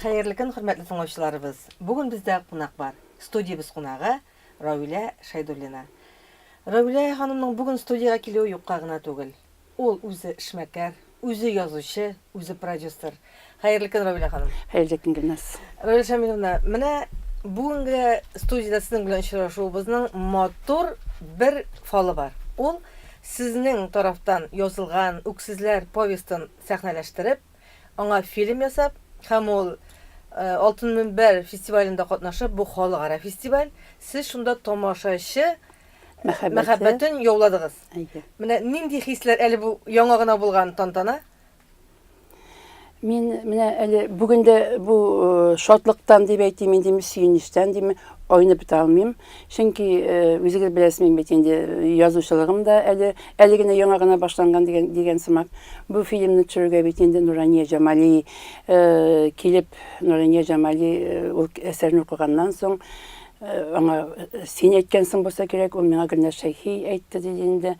Хәерле көн, хөрмәтле тыңлаучыларыбыз! Бүген бездә кунак бар. Студиябез кунагы, Равилә Шәйдуллина. Равилә ханымның бүген студиягә килүе юкка гына түгел. Ул үзе эшмәкәр, үзе язучы, үзе продюсер. Хәерле көн, Равилә ханым! Хәерле көн, Гөлназ! Равилә Шамиловна, менә бүгенге студиядә сезнең белән очрашуыбызның матур бер фалы бар. Ул, сезнең тарафтан язылган Үксезләр повестын сәхнәләштереп, аңа фильм ясап һәм ул Алтын мөнбәр фестивалендә катнашып, бу халыкара фестиваль, сез шунда тамашачы мәхәббәтен яуладыгыз. Менә нинди хисләр әле бу яңа гына булган тантана? Мин менә әле бүген дә бу э, шатлыктан дип әйтим инде, сөенечтән дим, айнып бетә алмыйм. Чөнки, үзегез беләсез, мин бит инде язучылыгым да әле, әле генә яңа гына башланган дигән, дигән сымак. Бу фильмны төшерергә бит инде Нурания Җамали килеп, Нурания Җамали ул әсәрне укыганнан соң, аңа син әйткәнсең булса кирәк, ул миңа Гөлназ Шәйхи әйтте диде инде.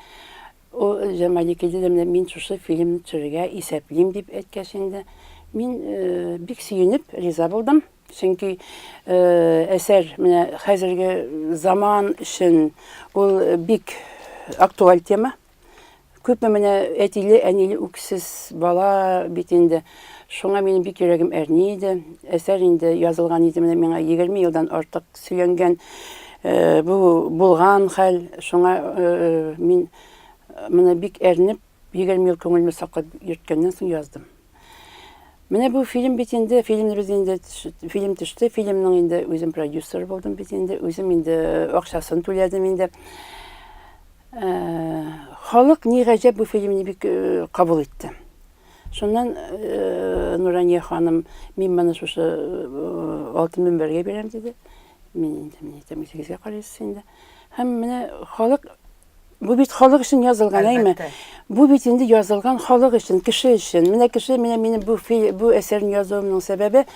Ул Җамали килде дә менә мин шушы фильмны төшерергә исәплим дип әйткәч инде, мин бик сөенеп риза булдым. Чөнки әсәр менә хәзерге заман өчен ул бик актуаль тема. Күпме менә әтиле, әниле үксез бала бит инде. Шуңа минем бик йөрәгем әрни иде. Әсәр инде язылган иде менә миңа 20 елдан артык сөйләнгән э, бу булган хәл. Шуңа э, э, мин менә бик әрнеп 20 ел күңелемне саклап йөрткәннән соң яздым. Менә бу фильм бит инде, фильмнер үзе инде фильм төште, фильмның инде үзем продюсер булдым бит инде, үзем инде акчасын түләдем инде. Э, халык ни гаҗәп бу фильмны бик э, кабул итте. Шуннан э, Нурания ханым, мин моны шушы алтын мөнбәргә бирәм диде. Мин инде, мин әйтәм, үзегезгә карыйсыз инде. Һәм менә халык Бу бит халык өчен язылган, әйме? Бу бит инде язылган халык өчен, кеше өчен. Менә кеше, менә минем бу бу әсәрне язуымның сәбәбе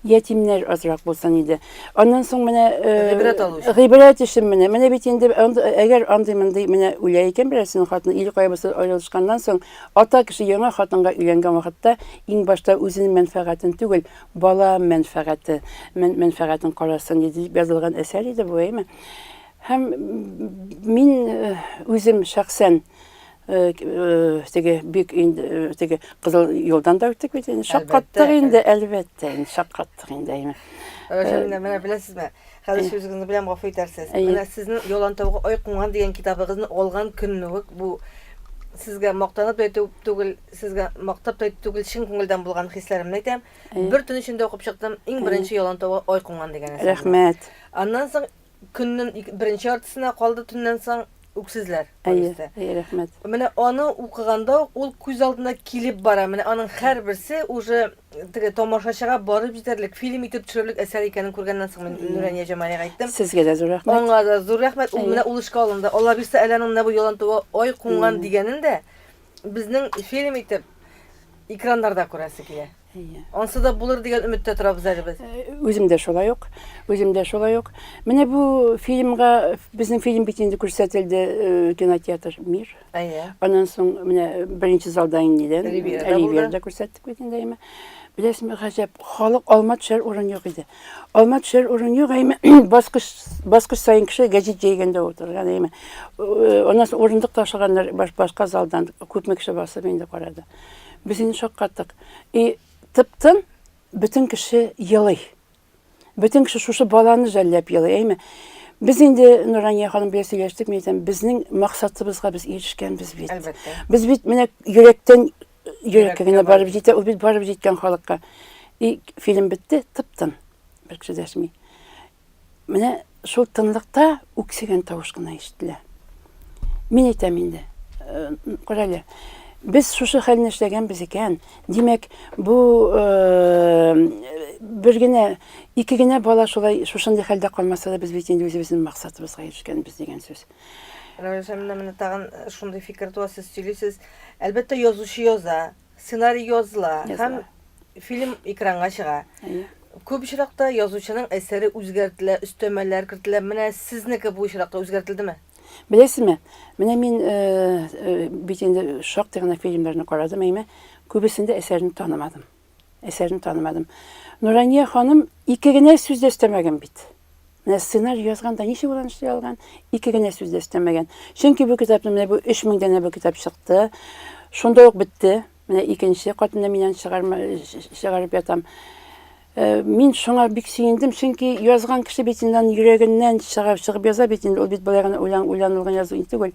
ятимнәр азрак булсын иде. Аннан соң менә э, гыйбрәт алу өчен. Гыйбрәт өчен менә. Менә бит инде әгәр андый мондый менә үлә икән берәрсенең хатыны, ил кайбысы аерылышканнан соң ата кеше яңа хатынга өйләнгән вакытта иң башта үзенең мәнфәгатен түгел, бала мәнфәгате, мәнфәгатен карасын дип язылган әсәр иде бу, әйме? Һәм мин үзем шәхсән теге бик инде теге кызыл юлдан да үттек бит инде. Шаккаттык инде, әлбәттә, инде шаккаттык инде. Әйме. Менә беләсезме? Хәзер сүзегезне беләм, гафу итәрсез. Менә сезнең Ялан тавыгы ай куңган дигән китабыгызны алган көнне үк бу сезгә мактанып та әйтү түгел, сезгә мактап та әйтү түгел, чын күңелдән булган хисләремне әйтәм. Бер төн эчендә укып чыктым. Иң беренче Ялан тавыгы ай куңган дигән әсәр. Рәхмәт. Аннан соң Көннең ик, беренче яртысына калды төннән соң Үксезләр повесте. Әйе, әйе, рәхмәт. Менә аны укыганда ук ул күз алдына килеп бара. Менә аның һәрберсе уже теге тамашачыга барып җитәрлек, фильм итеп төшерерлек әсәр икәнен күргәннән соң мин Нурания Җамалига әйттем. Сезгә дә зур рәхмәт. Аңа да зур рәхмәт. Ул менә ул эшкә алынды. Аллабирса әле аның менә бу Ялантуга ай кунган дигәнен дә безнең фильм итеп экраннарда күрәсе килә. Әйе. Ансы да булыр дигән өметтә торабыз әле без. Үзем дә шулай ук, үзем дә шулай ук. Менә бу фильмга, безнең фильм бит инде күрсәтелде э, кинотеатр Мир. Әйе. Аннан соң менә беренче залда иннедән Ривьерада булды. Ривьерада күрсәттек бит инде әйме. Беләсезме, гаҗәп, халык алма төшәр урын юк иде. Алма төшәр урын юк, әйме баскыч баскыч саен кеше гәҗит җәйгәндә утырган әйме. Э, Аннан соң урындык ташлаганнар баш- башка залдан күпме кеше басып инде карады. Без инде шаккаттык. И тып-тын бөтен кеше елый. Бөтен кеше шушы баланы жәлләп елый, әйме? Без инде Нурания ханым белән сөйләштек, мин әйтәм, безнең максатыбызга без ирешкәнбез бит. Әлбәттә. Без бит менә йөрәктән йөрәккә генә барып җитә, ул бит барып җиткән халыкка. И фильм бетте, тып-тын. Бер кеше дәшми. Менә шул тынлыкта үксегән тавыш кына ишетелә. Мин әйтәм инде, э, күрәле, без шушы хәлне эшләгәнбез икән, димәк, бу э, бер генә, ике генә бала шулай шушындый хәлдә калмаса да, без бит инде үзебезнең максатыбызга ирешкәнбез дигән сүз. Рәвешәмнә менә тагын э, шундый фикер туа, сез сөйлисез. Әлбәттә, язучы яза, Сценарий языла һәм фильм экранга чыга. Күп очракта язучының әсәре үзгәртелә, өстәмәләр кертелә. Менә сезнеке бу очракта үзгәртелдеме? Беләсезме? Менә мин э, э, бит инде шактый гына фильмнарны карадым, әйме, күбесендә әсәрне танымадым. Әсәрне танымадым. Нурания ханым ике генә сүз дә өстәмәгән бит. Менә сценарий язган да ничек булган эшли алган, ике генә сүз дә өстәмәгән. Чөнки бу китапны менә бу 3000 данә бу китап чыкты. Шунда ук бетте. Менә икенче катында миннән чыгарма чыгарып ятам. Э, мин шуңа бик сөендем, чөнки язган кеше бит инде йөрәгеннән чыгып чыгып яза бит инде, ул бит былай гына уйлан уйланылган язу инде түгел.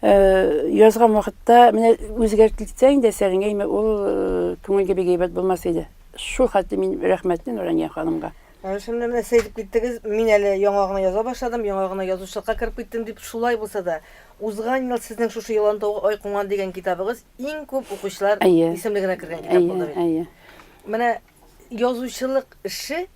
Э, язган вакытта менә үзгәртелсә инде әсәреңә, ул э, күңелгә бик әйбәт булмас иде. Шул хәтле мин рәхмәтле Нурания ханымга. Чын белән эссе итеп киттегез. Мин әле яңа гына яза башладым, яңа гына язучылыкка кереп киттем дип, шулай булса да, узган ел сезнең шушы Елан тавы ай куңган дигән китабыгыз иң күп укучылар исемлегенә кергән китап булды бит. Әйе, әйе. Менә язучылык эше,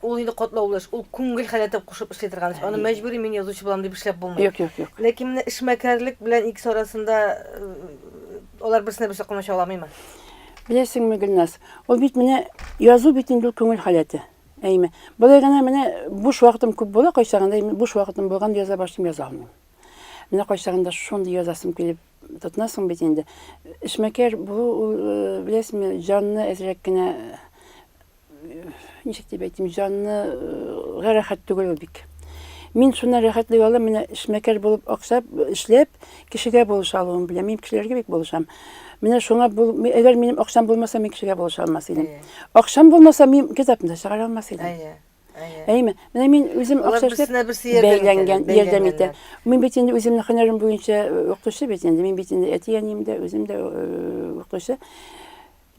ул инде катлаулы эш, ул күңел халәтен кушып эшли торган эш. Аны мәҗбүри мин язучы булам дип эшләп булмый. Юк, юк, юк. Ләкин менә эшмәкәрлек белән икесе арасында алар берсенә берсе комачауламыймы? Беләсеңме, Гөлназ, ул бит менә язу бит инде ул күңел халәте. Әйме. Болай гына менә буш вакытым күп була, кайчагында буш вакытым булган яза башлыйм яза алмыйм. Менә кайчагында шундый язасым килеп тотнасың бит инде. Эшмәкәр булу ул, э, беләсеңме, җанны әзрәк кенә ничек дип әйтим, җанны э, рәхәт түгел бик. Мин шуннан рәхәтлек алам, менә эшмәкәр булып аксап, эшләп, кешегә булыша алуым белән. Мин кешеләргә бик булышам. Менә шуңа бул, әгәр минем акчам булмаса, мин кешегә булыша алмас идем. Акчам булмаса, мин китапны чыгара алмас идем. Әйе. Әйме, менә мин үзем акча эшләп бәйләнгән, ярдәм итә. Мин бит инде үземнең һөнәрем буенча э, укытучы бит инде. Мин бит инде әти-әнием дә, үзем дә э, укытучы.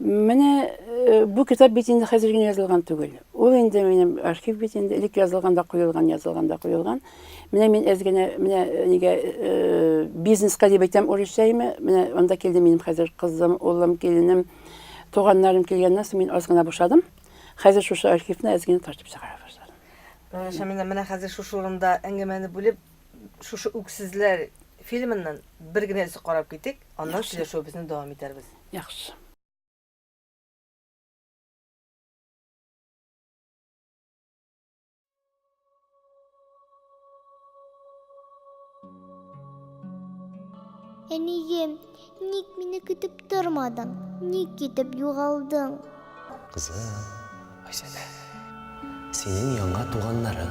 Менә бу китап бит инде хәзер генә язылган түгел. Ул инде минем архив бит инде элек язылган да куелган, язылган да куелган. Менә мин әз генә менә нигә бизнеска дип әйтәм урысчаемы? Менә анда килде минем хәзер кызым, улым, киленем, туганнарым килгәннән соң мин аз гына бушадым. Хәзер шушы архивны әз генә тартып чыгара башладым. Шамина, менә хәзер шушы урында әңгәмәне бүлеп, шушы үксезләр фильмыннан бер генә өзек карап китик, аннан сөйләшүебезне дәвам итәрбез. Яхшы. Әнием, ник мине көтеп тормадың? Ник китеп югалдың? Кызым, Айсәлә, синең яңа туганнарың.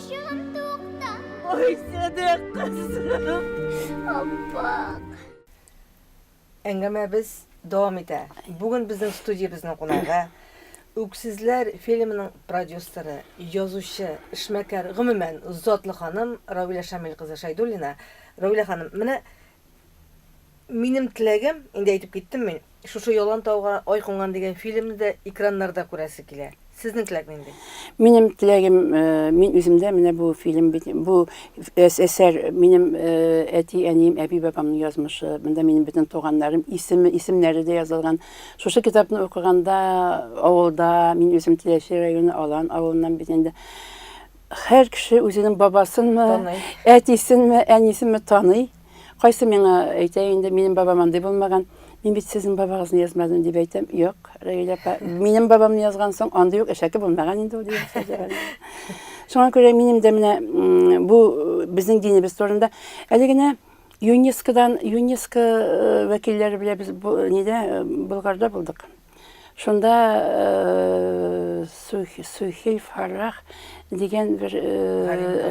Әңгәмәбез дәвам итә. Бүген безнең студиябезнең кунагы Үксезләр фильмының продюсеры, язучы, эшмәкәр, гомумән, затлы ханым Равилә Шамил кызы Шәйдуллина. Равилә ханым, менә Минем теләгем, инде әйтеп киттем мин, шушы Ялан тауга ай кунган дигән фильмны да экраннарда күрәсе килә. Сезнең теләк нинди? Минем теләгем, мин үземдә менә бу фильм бит, бу әсәр минем әти, әнием, әби, бабамның язмышы. Монда минем бөтен туганнарым исеме, исемнәре дә язылган. Шушы китапны укыганда авылда, мин үзем Теләче районы Алан авылыннан бит инде. Хәр кеше үзенең бабасынмы, әтисенме, әнисенме таный. Кайсы миңа әйтә инде, минем бабам андый булмаган. Мин бит сезнең бабагызны язмадым дип әйтәм. Юк, Рәйлә апа, минем бабамны язган соң андый юк әшәке булмаган инде ул дип. Шуңа күрә минем дә менә бу безнең динебез турында әле генә ЮНЕСКОдан, ЮНЕСКО э, вәкилләре белән без нидә э, Болгарда булдык. Шунда Сухиль Фаррах дигән бер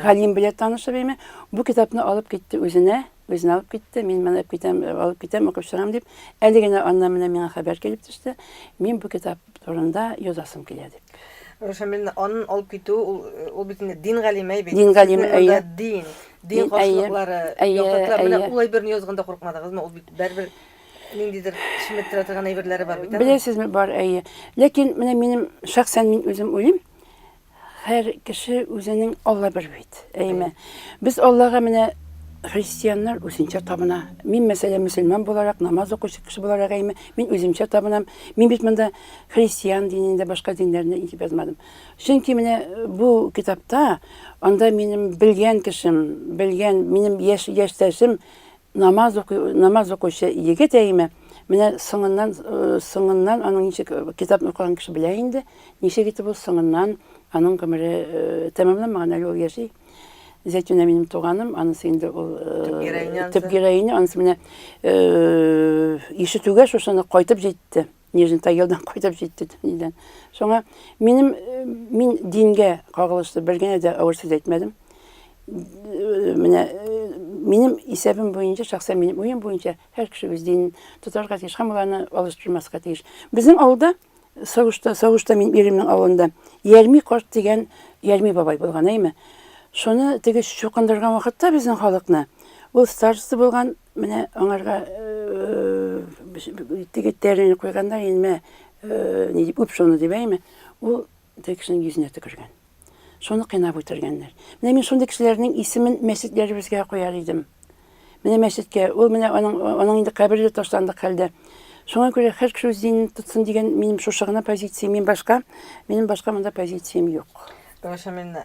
галим белән танышып име, бу китапны алып китте үзенә, үзенә алып китте, мин менә китәм, алып китәм, укып чыгам дип, әле генә аннан менә миңа хәбәр килеп төште, мин бу китап турында язасым килә дип. Рушан, мин анын алып китү, ул бит инде дин галиме бит. Дин галиме, әйе. Дин, дин каршылыклары, яктылыклар, менә ул әйберне язганда куркмадыгызмы? Ул бит бәрбер Ниндидер шиметтерә торган әйберләре бар бит. Беләсезме, бар, әйе. Ләкин менә минем шәхсән мин үзем уйлыйм, һәр кеше үзенең Алла бер бит. Әйме? Без Аллага менә христианнар үзенчә табына. Мин мәсәлән мөселман буларак, намаз укучы кеше буларак әйме, мин үземчә табынам. Мин бит монда христиан динендә башка диннәрне итеп язмадым. Чөнки менә э, бу китапта анда минем белгән кешем, белгән минем яшь яшьтәшем Намаз укый, намаз укучы егет әйме, менә соңыннан, соңыннан аның ничек китапны укыган кеше белә инде, ничек итеп ул соңыннан аның гомере тәмамланмаган, әле ул яши. Зәйтүнә минем туганым, анысы инде ул төп героиня, анысы менә ишетүгә шушыны кайтып җитте. Нижний Тагилдан кайтып җитте Төнидән. Шуңа минем э, мин дингә кагылышлы бер генә дә авыр сүз әйтмәдем. Э, менә э, минем исәбем буенча, шәхсән минем уем буенча һәр кеше үз динен тотарга тиеш һәм аларны алыштырмаска тиеш. Безнең авылда Савышта, Савышта мин иремнең авылында Ярми карт дигән Ярми бабай булган, әйме. Шуны теге чукындырган вакытта безнең халыкны ул староста булган Менә аңарга теге тәрен куйганда, инде менә ни дип үп шуны дип әйме, ул теге кешенең йөзенә төкергән. Шуны кыйнап үтергәннәр. Менә мин шундый кешеләрнең исемен мәчетләребезгә куяр идем. Менә мәчеткә, ул менә аның аның инде кабере ташландык хәлдә. Шуңа күрә һәр кеше үз динен тотсын дигән минем шушы гына позиция, мин башка, минем башка монда позициям юк. Гөлшәмина,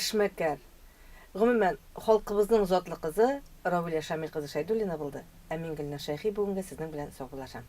Эшмәкәр. Гомумән, халкыбызның затлы кызы Равилә Шамил кызы Шәйдуллина булды. Ә мин, Гөлназ Шәйхи, бүгенге сезнең белән саубуллашам.